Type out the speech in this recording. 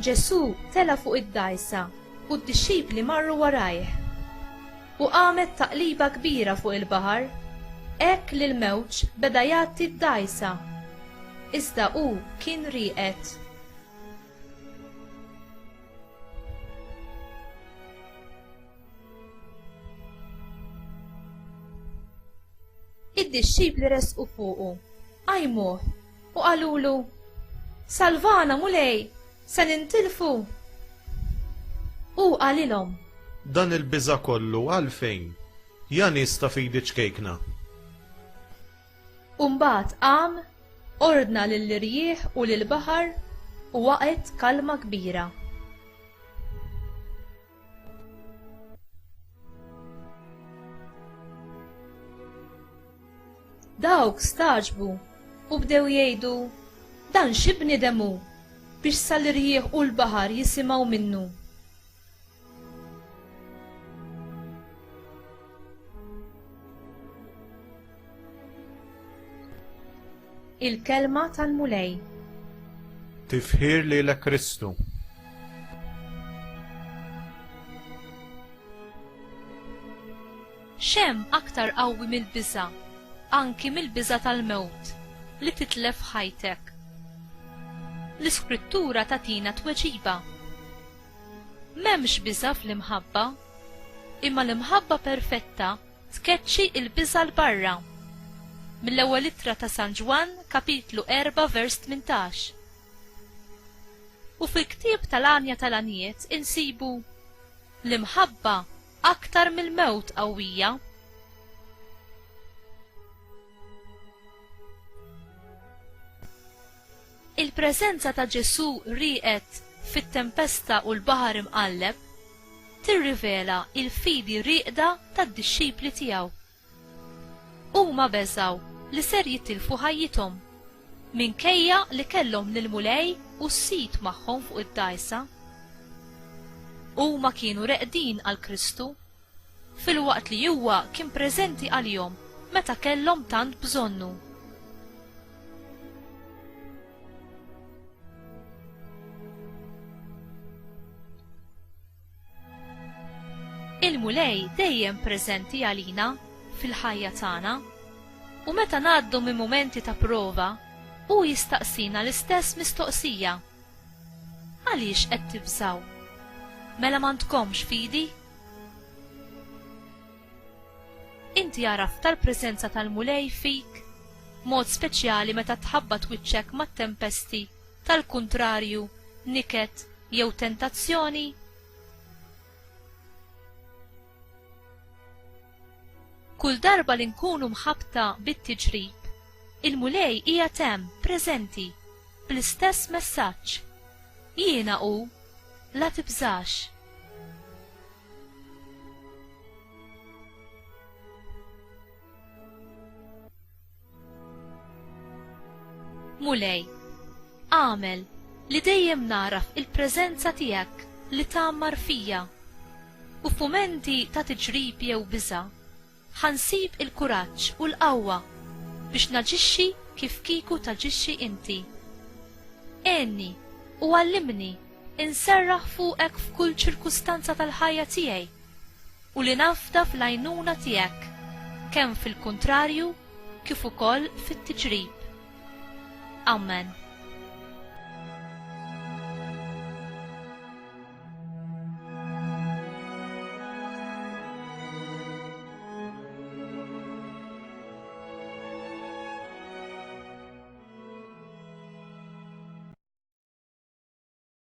Ġesù tela' fuq id-dgħajsa u d-dixxipli marru warajh. U qamet taqliba kbira fuq il-baħar, hekk li l-mewġ beda jgħatti d-dgħajsa. Iżda hu kien rieqed. Id-dixxipli resqu fuqu, qajmuh u qalulu, Salvana, Mulej, se nintilfu! Hu qalilhom, Dan il-biża' kollu għalfejn, ja nies ta' fidi ċkejkna? U mbagħad qam, ordna lill-irjieħ u lill-baħar, u waqgħet kalma kbira. Dawk stagħġbu u bdew jgħidu, Dan xi bniedem hu biex sal-irjieħ u l-baħar jisimgħu minnu? Il-kelma tal-Mulej. Tifħir li l Kristu. Xem aktar qawwi mill-biża, anki mill-biża tal-mewt, li titlef ħajtek. L-iskrittura tatina tweġiba. M'hemmx biża' fl-imħabba, imma l-imħabba perfetta tkeċċi l-biża' 'l barra. Mill-Ewwel Ittra ta' San Ġwann, Kapitlu 4, vers 18. U fil-ktieb tal-għanja tal-għanjiet insibu, L-imħabba aktar mill-mewt qawwija. Il-preżenza ta' Ġesù rieqed fit-tempesta u l-baħar imqalleb tirrivela l-fidi rieqda tad-dixxipli tiegħu. Huma beżgħu li ser jitilfu ħajjithom, minkejja li kellhom lill-Mulej u s-sid magħhom fuq id-dgħajsa. Huma kienu reqdin għal Kristu filwaqt li huwa kien preżenti għalihom meta kellhom tant bżonnu. Il-Mulej dejjem preżenti għalina fil-ħajja tagħna, u meta ngħaddu minn mumenti ta' prova, hu jistaqsina l-istess mistoqsija. Għaliex qed tibżgħu? Mela m'għandkomx fidi? Inti għaraft tal-preżenza tal-Mulej fik? Mod speċjali meta tħabbat wiċċek mat-tempesti tal-kuntrarju, niket, jew tentazzjoni? Kull darba li nkunu mħabbta bit-tiġrib, il-Mulej qiegħed hemm, preżenti, bl-istess messaġġ, Jiena hu, la tibżax. Mulej, għamel li dejjem naraf il-preżenza tiegħek li tgħammar fija u f'mumenti ta' tiġrib jew biża' ħansib il-kuraġġ u l-qawwa biex naġixxi kif kieku taġixxi inti. Għenni u għallimni inserraħ fuqek f'kull ċirkustanza tal-ħajja tiegħi. u li nafda fl-għajnuna tiegħek kemm fil-kuntrarju kif ukoll fit-tiġrib. Amen.